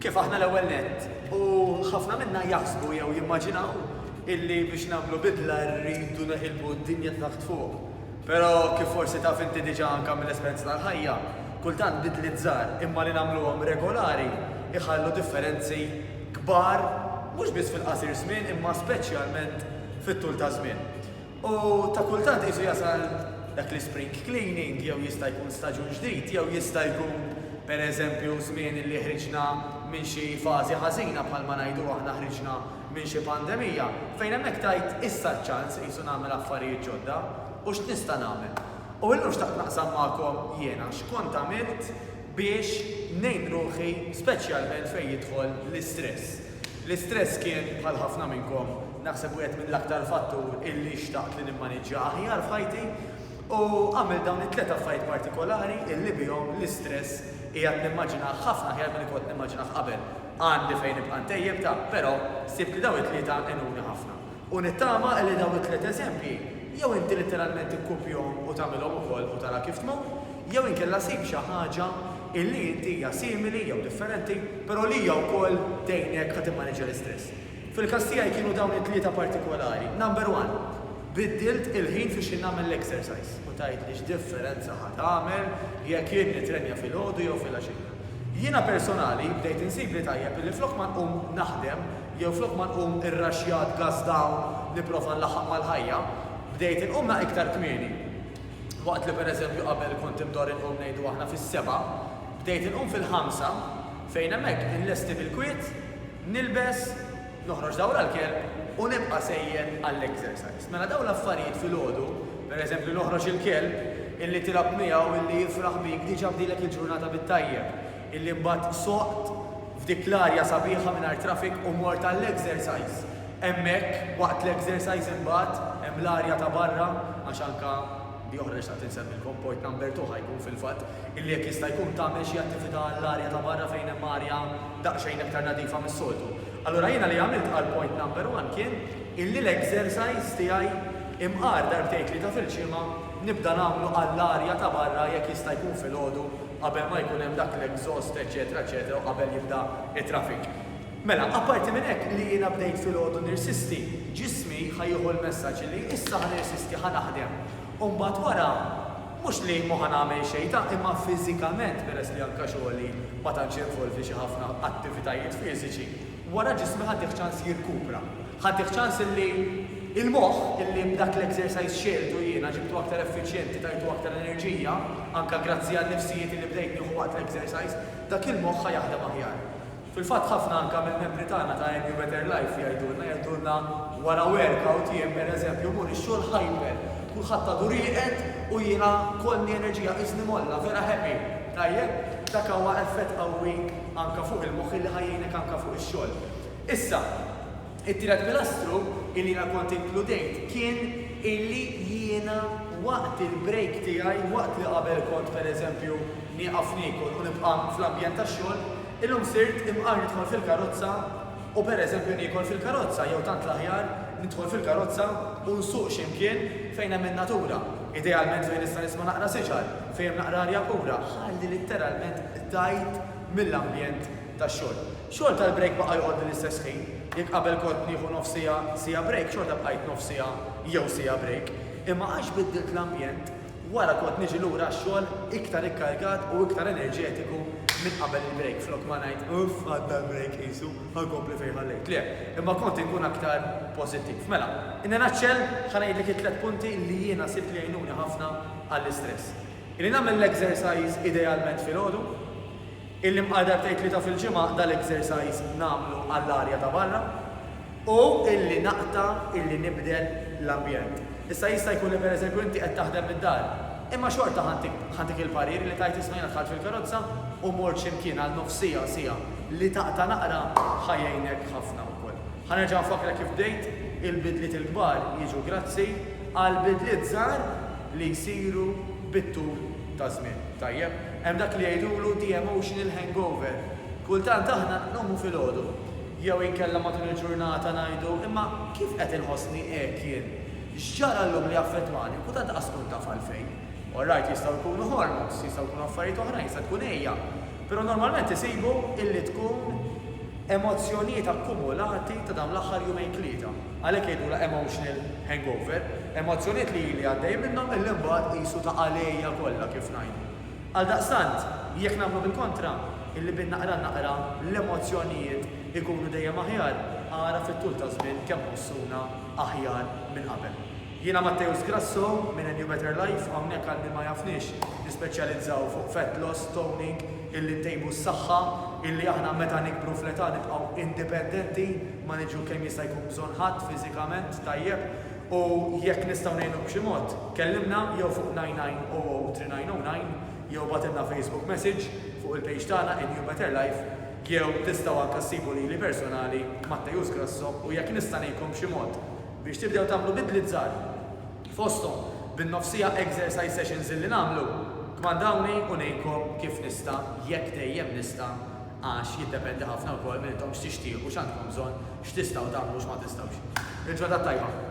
Kif aħna l-ewwel nett? U ħafna minna jaħsbu jew jimmaġinaw illi biex nagħmlu bidla rridu neqilbu d-dinja ta' taħt fuq. Però kif forsi taf inti diġà anke mill-esperjenza tal-ħajja, kultant bidliet żgħar imma li nagħmluhom regolari jħallu differenzi kbar mhux biss fil-qasir żmien imma speċjalment fit-tul taż-żmien. U ta' kultant qisu jasal dak l-ispring cleaning jew jista' jkun staġun ġdid jew jista' jkun pereżempju żmien illi ħriġna minn xi fażi ħażina bħalma ngħidu aħna ħriġna minn xi pandemija fejn hemmhekk tajt issa ċ-ċans qisu nagħmel affarijiet ġodda u x'nista' nagħmel. U illum xtaqt naqsam magħkom jiena x'kont għamilt biex ngħin ruħi speċjalment fejn jidħol l-istress. L-istress kien, bħal ħafna minnkom, naħseb wieħed mill-aktar fattur illi xtaqt li nimmaniġġja aħjar f'ħajti u għamilt dawn it-tliet affarijiet partikolari illi bihom l-istress qiegħed nimmaġinah ħafna aħjar milli kont nimmaġinah qabel. Għandi fejn nibqa' ntejjeb, ta', però sibt li dawn it-tlieta għenuni ħafna. U nittama li dawn it-tliet eżempji jew inti litteralment tikkupjahom u tagħmilhom ukoll u tara kif tmur, jew inkella sib xi ħaġa illi inti hija simili jew differenti, però li hija wkoll tgħinek ħa timmaniġġja l-istress. Fil-każ tiegħi kienu dawn it-tlieta partikolari. Number one, biddilt il-ħin fi x'jien nagħmel l-exercise. U tgħidli x'differenza ħa tagħmel jekk jien nittrenja filgħodu jew filgħaxija? Jiena personali bdejt insibli tajjeb illi flok ma nqum naħdem, Jew flok ma nqum irraxxjat gass dawn nipprova nlaħħaq mal-ħajja, bdejt inqum naqgħa iktar kmieni. Waqt li pereżempju qabel kont imdorr inqum ngħidu aħna fis-sebgħa, bdejt inqum fil-ħamsa fejn hemmhekk inlesti bil-kwiet, nilbes, noħroġ dawra l-kelb u nibqa' sejjer għall-exercise. Mela dawn l-affarijiet filgħodu, pereżempju noħroġ il-kelb, illi tilgħab miegħu, illi jifraħ bik, diġà bdilek il-ġurnata bit-tajjeb. illi mbagħad soqt f'dik l-arja sabiħa mingħajr traffic u mort għall-exercise hemmhekk, waqt l-exercise imbagħad hemm l-arja ta' barra għax anke di oħra li xtaqt insemmilkom point number two ħa jkun fil-fatt illi jekk jista' jkun tagħmel xi attività għall-arja ta' barra fejn hemm arja daqsxejn iktar nadifa mis-soltu. Allura jiena li għamilt għal point number one kien illi l-exercise tiegħi imqar darbtejn tlieta fil-ġimgħa nibda nagħmlu għall-arja ta' barra jekk jista' jkun filgħodu qabel ma jkun hemm dak l-exhaust eċċetera eċċetera u qabel jibda t-traffic. Mela, apparti minn hekk li jiena bdejt filgħodu nirsisti, ġismi ħa jieħu l-messaġġ li issa ħa nirsisti ħa naħdem u mbagħad wara mhux li m'ħa nagħmel xejn ta' imma fiżikament peress li anke xogħli ma tantx jinvolvi xi ħafna attivitajiet fiżiċi, wara ġismi ħa tih ċans jirkupra. Ħaddieh ċans illi l-moħħ illi b'dak l-exercise xegħeltu jiena, ġibtu aktar effiċjenti, tajtu aktar enerġija, anke grazzi għan-nifsijiet illi bdejt nieħu waqt l-exercise, dak il-moħħ ħa jaħdem aħjar. Fil-fatt ħafna anke mill-membri tagħna ta' Earn Your Better Life jgħidulna, jgħidulna wara workout jien per eżempju mmur ix-xogħol hyper, kulħadd għadu rieqed u jiena kollni enerġija qisni mgħolla, vera happy. Tajjeb? Dak huwa effett qawwi anke fuq il-moħħ illi ħa jgħinek anke fuq ix-xogħol. Issa, it-tielet pilastru illi jiena kont inkludejt kien illi jiena waqt il-break tiegħi, waqt li qabel kont pereżempju nieqaf niekol u nibqa' fl-ambjent tax-xogħol, illum sirt imqar nidħol fil-karozza u pereżempju niekol fil-karozza jew tant l-aħjar nidħol fil-karozza u nsuq xi mkien fejn hemm in-natura, idealment fejn nista' nisma' naqra siġar, fejn hemm naqra arja pura, ħalli litteralment tgħid mill-ambjent tax-xogħol. Xogħol tal-brejk baqa' joqgħodli l-istess ħin. Jekk qabel kont nieħu nofs siegħa, siegħa brejk, xorta bqajt nofs siegħa jew siegħa brejk. Imma għax biddilt l-ambjent, wara kont niġi lura għax-xogħol iktar ikkargat u iktar enerġetiku minn qabel il-brejk. Flok ma ngħid, 'Uff, għadda l-brejk qisu, ħa nkompli fejn ħallejt', le, imma kont inkun aktar pożittiv. Mela, in a nutshell, ħa ngħidlek it-tliet punti li jiena sibt li jgħinuni ħafna għall-istress. Illi nagħmel l-exercise idealment filgħodu. Illi bqal darbtejn tlieta fil-ġimgħa dal-exercise nagħmlu għall-arja ta' barra u illi naqta' illi nibdel l-ambjent. Issa jista' jkun li pereżempju inti qed taħdem mid-dar, imma xorta ħa dik il-parir li tgħid isma' jiena dħalt fil-karozza u mort xi mkien għal nofs siegħa, siegħa. Li taqta' naqra ħa jgħinek ħafna wkoll. Ħa nerġa' nfakkrek kif bdejt, il-bidliet il-kbar jiġu grazzi għal bidliet żgħar li jsiru bit-tul taż-żmien. Tajjeb, hemm dak li jgħidulu the emotional hangover. Kultant aħna nqumu filgħodu, jew inkella matul il-ġurnata ngħidu, imma kif qed inħossni hekk jien? X'ġara llum li affettwani? U tant qas tkun taf għalfejn. Orrajt, jistgħu jkunu hormones, jistgħu jkunu affarijiet oħrajn, jista' tkun għejja. Però normalment isibu illi tkun emozzjonijiet akkumulati ta' dawn l-aħħar jumejn tlieta. Għalhekk jgħidulha emotional hangover, emozzjonijiet li ili għaddej minnhom illi mbagħad qisu ta' għalejja kollha kif ngħidu. Għaldaqstant, jekk nagħmlu bil-kontra, illi bin-naqra naqra l-emozzjonijiet ikunu dejjem aħjar, ara fit-tul taż-żmien kemm ħossuna aħjar minn qabel. Jiena Matteus Grasso minn A New Better Life, hawnhekk għal min ma jafnix nispeċjalizzaw fuq fat loss, toning, illi ntejbu s-saħħa, illi aħna meta nikbru fl-età nibqgħu indipendenti, ma niġu kemm jista' jkun bżonn ħadd fiżikament, tajjeb, u jekk nistgħu ngħinuk b'xi mod, kellimna jew fuq 99003909 jew ibgħatilna Facebook message fuq il-page tagħna In You Better Life jew tistgħu anke ssibu lili personali Matteus Grasso u jekk nista' ngħinkom b'xi mod biex tibdew tagħmlu bidliet żgħar fosthom bin-nofsija exercise sessions illi nagħmlu, kmandawni u ngħinkom kif nista' jekk dejjem nista' għax jiddependi ħafna wkoll minn intom x'tixtiequ, x'għandkom bżonn, x'tistgħu tagħmlu u x'ma tistgħux. Il-ġurnata t-tajba.